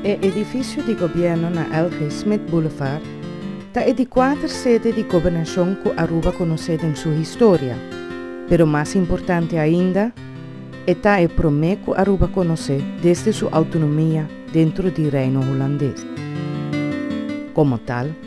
E edifisio di gobièrnu na L. G. Smith Boulevard ta e di kuater sede di gobernashon ku Aruba konosé den su historia, pero mas importante ainda, e ta e promé ku Aruba konosé desde su outonomia dentro di Reino Hulandes. Komo tal.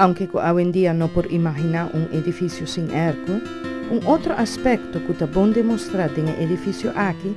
Aunke cu awendia no por imagina un edificio sin airco, un otro aspecto cu ta bon demostra den e edificio aki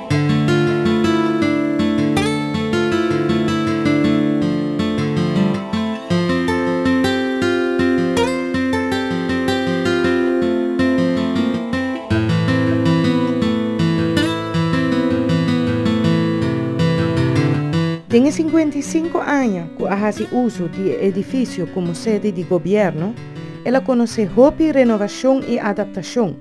Den e sinkuenta i sinku aña ku a hasi uso di e edifisio komo sede di gobièrnu, el a konosé hopi renovashon i adaptashon.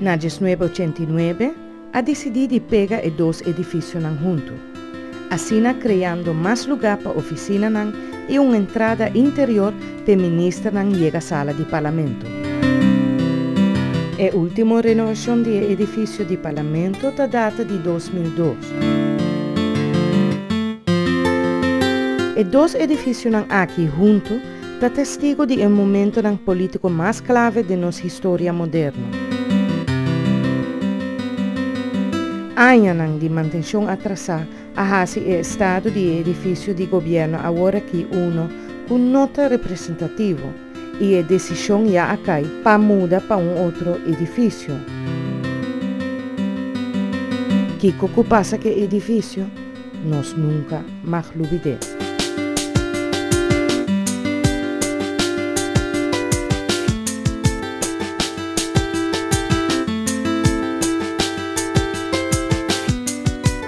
Na diesnuebe ochenta i nuebe, a disidí di pega e dos edifisionan huntu, asina kreando mas lugá pa ofisinanan i un entrada interior te ministernan yega sala di Parlamento. E ultimo renovacion di e edificio di Parlamento ta data di dos mil dos. E dos edificionan aki hunto ta testigo di e momentonan politico mas clave den nos historia moderno. Añanan di mantencion atrasa A hasi e estado di e edifisio di gobièrnu aworakí uno ku no ta representativo i e desishon ya a kai pa muda pa un otro edifisio. Kiko ku pasa ku e edifisio? Nos nunka mag lubid'é.